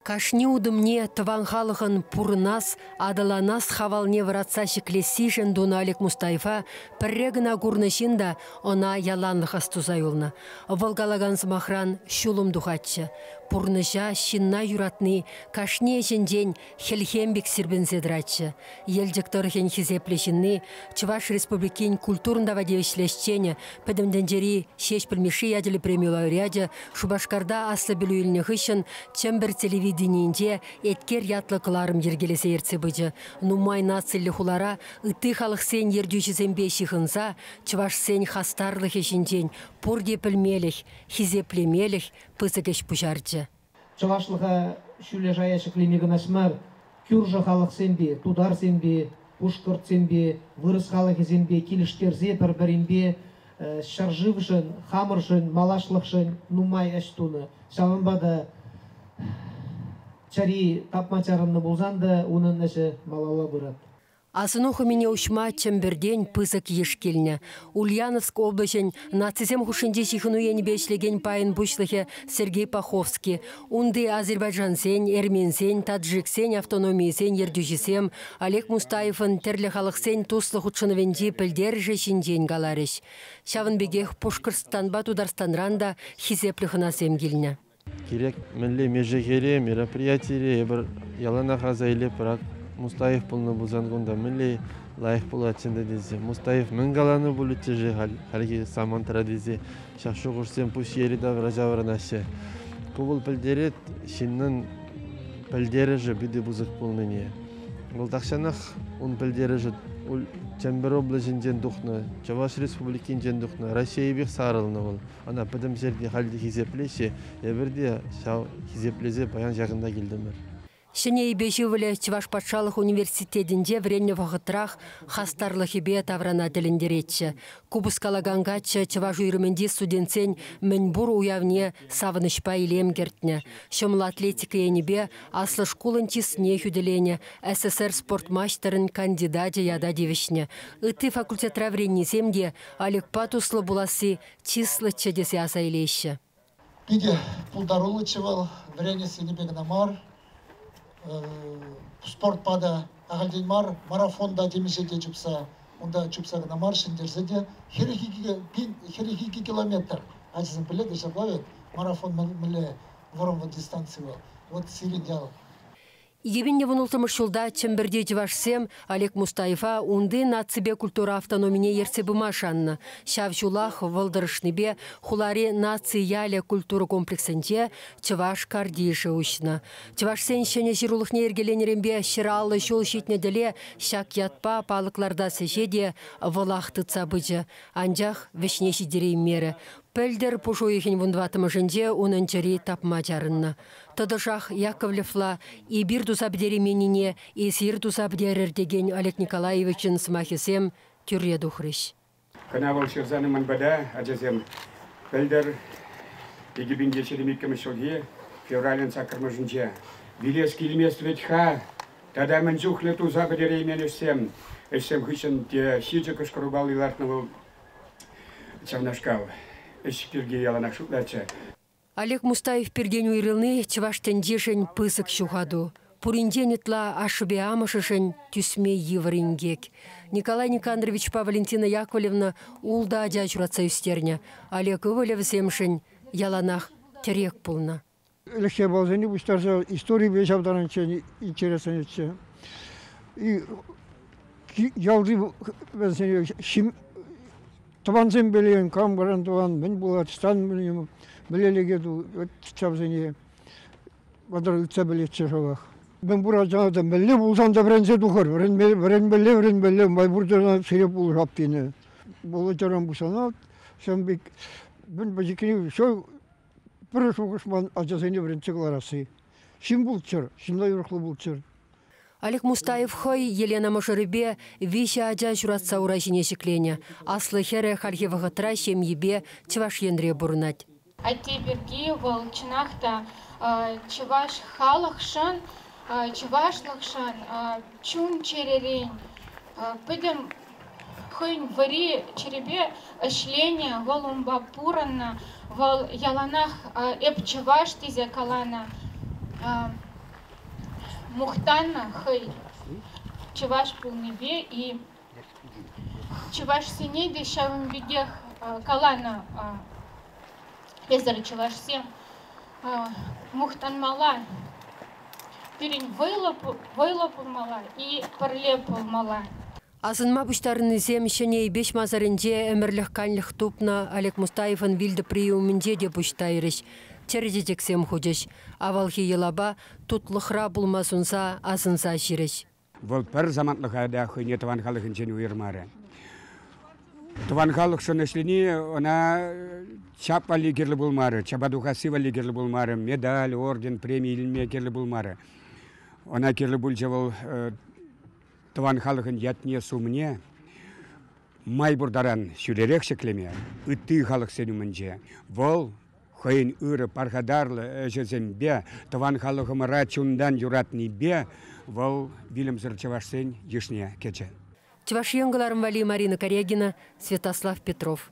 Кашни утӑмне тӑван халӑхӑн пурӑнас, аталанас хавалне вӑратса ҫӗклессишӗн тунӑ Олег Мустаева пӗрре кӑна курнӑ ҫын та ӑна яланлӑх астуса юлнӑ. Вӑл калакан сӑмахран ҫулӑм тухатчӗ. Пурнӑҫа, ҫынна юратни кашни ӗҫӗнчен хӗлхем пек сирпӗнсе тӑратчӗ. Елчӗк тӑрӑхӗн хисеплӗ ҫынни, Чӑваш Республикин культурӑн тава тивӗҫлӗ ӗҫченӗ, Пӗтӗм тӗнчери Ҫеҫпӗл Мишши ячӗллӗ преми лауреачӗ Шупашкарта аслӑ пӗлӳ илнӗ хыҫҫӑн Чӗмпӗр телевиденийӗнче Эткер ятлӑ кӑларӑм йӗркелесе ертсе пычӗ. Нумай нациллӗ хулара ытти халӑхсен ертӳҫисемпе ҫыхӑнса чӑвашсен хастарлӑхӗ ҫинчен пурте пӗлмелӗх, хисеплемелӗх пысӑк ӗҫ пуҫарчӗ. Чӑвашлӑха ҫӳле шая ҫӗклеме кӑнаҫ мар, кӳршӗ халӑхсемпе, тутарсемпе, пушкӑртсемпе, вырӑс халӑхӗсемпе килӗштерсе пӗр-пӗринпе ҫӗршывшӑн, хамӑршӑн, малашлӑхшӑн нумай ӗҫ тунӑ. Ҫавӑнпа та чӗри тапма чарӑннӑ пулсан та унӑн ӗҫӗ малалла пырать. Асӑну хӑмине уҫма Чӗмпӗртен пысӑк йыш килнӗ. Ульяновск облаҫӗн нацисем хушшинчи ҫыхӑну енӗпе ӗҫлекен пайӗн пуҫлӑхӗ Сергей Паховский, унти азербайджансен, эрменсен, таджиксен автономийӗсен ертӳҫисем Олег Мустаевӑн тӗрлӗ халӑхсен туслӑ хутшӑнӑвӗнчи пӗлтерӗшӗ ҫинчен каларӗҫ. Ҫавӑн пекех Пушкӑртстанпа Тутарстанран та хисеплӗ хӑнасем килнӗ. Кирек мӗнле мешехере, мероприятире эпир яланах аса илетпӗр. Мустаев пулнӑ пулсан кунта мӗнле лайӑх пулатчӗ тесе. Мустаев мӗн каланӑ пулӗччӗ-ши хальхи самантра тесе ҫак шухӑшсем пуҫ йӗри-тавра ҫаврӑнаҫҫӗ. Ку вӑл пӗлтерет ҫыннӑн пӗлтерӗшӗ питӗ пысӑк пулнине. Вӑл тахҫанах ун пӗлтерӗшӗ Чӗмпӗр облаҫӗнчен тухнӑ, Чӑваш Республикинчен тухнӑ, Раҫҫейӗпех сарӑлнӑ вӑл. Ӑна пӗтӗмсерте халь те хисеплеҫҫӗ. Эпир те ҫав хисеплесе паян ҫакӑнта килтӗмӗр. Ҫӗнӗ Эйпеҫ ывӑлӗ Чӑваш патшалӑх университетӗнче вӗреннӗ вӑхӑтрах хастарлӑхӗпе таврана тӗлӗнтеретчӗ. Купӑс калакан каччӑ чӑваш уйрӑмӗнчи студентсен мӗнпур уявне савӑнӑҫпа илем кӗртнӗ. Ҫӑмӑл атлетика енӗпе аслӑ шкулӑн чысне хӳтӗленӗ, СССР спорт маҫтӑрӗн кандидачӗ ята тивӗҫнӗ. Ытти факультетра вӗреннисем те Олегпа туслӑ пуласси чыслӑччӗ тесе аса илеҫҫӗ. Питӗ пултаруллӑччӗ вӑл, вӗренес енӗпе кӑна мар, спортпа та ахальтен мар, марафонта темиҫе те чупса, унта чупса кӑна мар, ҫӗнтерсе те хӗрӗх икӗ километр ачасем пӗле те ҫапла вӗт, марафон мӗнле вӑрӑмлӑ дистанци вӑл. Вот сирӗн ял. Евӗнлӗ вунулттӑмӗш ҫулта Чӗмпӗрти чӑвашсем Олег Мустаева унти наципе культура автономине ертсе пыма шаннӑ. Ҫав ҫулах вӑл тӑрӑшнипе хулари наци ялӗ культура комплексӗнче чӑваш картишӗ уҫнӑ. Чӑвашсен ҫӗнӗ ҫырулӑхне йӗркеленӗренпе ҫӗр аллӑ ҫул ҫитнӗ тӗле ҫак ятпа палӑк лартас ӗҫе те вӑлах тытса пычӗ, анчах вӗҫне ҫитереймерӗ. Пӗлтӗр пуш уйӑхӗн вун тӑваттӑмӗшӗнче унӑн чӗри тапма чарӑннӑ. Тӑтӑшах Яковлевла эпир туса пӗтерейменнине эсир туса пӗтерӗр текен Олег Николаевичӑн сӑмахӗсем тӳрре тухрӗҫ. Хӑна вӑл ҫырсанӑ мӑнпада ачасем пӗлтӗр Пикепинте ҫирӗм иккӗмӗш ҫулхи февралӗн саккӑрмӗшӗнче. Вилес килмест вӗт-ха, тата мӗн чухлӗ туса пӗтереймен ӗҫсем. Ӗҫсем хыҫҫӑн те ҫичӗ кӑшкӑрупалли лартнӑ вӑл ҫавнашкал. Ӗҫ пирки яланах шутлатчӗ. Олег Мустаев пиртен уйрӑлни чӑваш тӗнчишӗн пысӑк ҫухату. Пуринчен ытла ашшӗпе амӑшӗшӗн тӳсме йывӑр инкек. Николай Никандровичпа Валентина Яковлевна ултӑ ача ҫуратса ӳстернӗ. Олег ывӑлӗ вӗсемшӗн яланах тӗрек пулнӑ. Элекҫей балсене пуҫтарса историпе ҫавтарнӑччен интересленетчӗ. Ялти вӗсене Тӑвансем пӗлен, кам кӑран тӑван, мӗн пулать, стан пӗлем, мӗлелӗке ту, вот ҫавсене вӑтӑр ыйтса пӗлетчӗ шӑпах. Мӗн пурачана та мӗнле пулсан та вӗренсе тухӑр, вӗренме, вӗренмелле, вӗренмелле, май пурчана сире пулӑшап тенӗ. Володяран пусана ҫавӑн пек мӗн пӗчӗккӗн ҫав пӗр шухӑш ман ачасене вӗрентсе кӑларасси. Ҫын пулччӑр, ҫынна юрӑхлӑ пулччӑр. Олег Мустаев хӑй Елена мӑшӑрӗпе виҫӗ ача ҫуратса ура ҫине ҫӗкленӗ. Аслӑ хӗрӗ хальхи вӑхӑтра ҫемйипе Чӑваш Енре пурӑнать. Атте пирки вӑл, чӑнах та, чӑваш халӑхшӑн, чӑвашлӑхшӑн, чун-чӗререн пӗтӗм хӑйӗн вӗри-чӗрипе ӗҫленӗ. Вӑл унпа пурӑннӑ. Вӑл яланах эп чӑваш тесе каланӑ. Мухтанӑ хӑй чӑваш пулнипе-и. Чӑвашсене те ҫавӑн пекех каланӑ эсӗр чӑвашсем. Мухтанмалла, пирӗн вӑйлӑ, вӑйлӑ пулмалла и пӗрле пулмалла. Асӑнма пуҫтарӑннисем Ҫӗнӗ Эйпеҫ масарӗнче ӗмӗрлӗх-канлӗх тупнӑ Олег Мустаевӑн вилтӑприйӗ умӗнче те пуҫ тайрӗҫ, чӗрӗ чечексем хучӗҫ, авалхи йӑлапа, тутлӑхра пулма сунса, асӑнса ҫирӗҫ. Вӑл пӗр самантлӑха та хӑйне тӑван халӑхӗнчен уйӑрмарӗ. Тӑван халӑхшӑн ӗҫлени ӑна чап валли кирлӗ пулмарӗ, чапа тухасси валли кирлӗ пулмарӗ, медаль, орден, преми илме кирлӗ пулмарӗ. Ӑна кирлӗ пулчӗ вӑл тӑван халӑхӑн ятне-сумне май пур таран ҫӳлерех ҫӗклеме, ытти халӑхсен умӗнче вӑл хӑйӗн ырӑ пархатарлӑ ӗҫӗсемпе, тӑван халӑхӑмӑра чунтан юратнипе вӑл вилӗмсӗр чӑвашсен йышне кӗчӗ. Чӑваш Ен кӑларӑм валли Марина Корягина, Святослав Петров.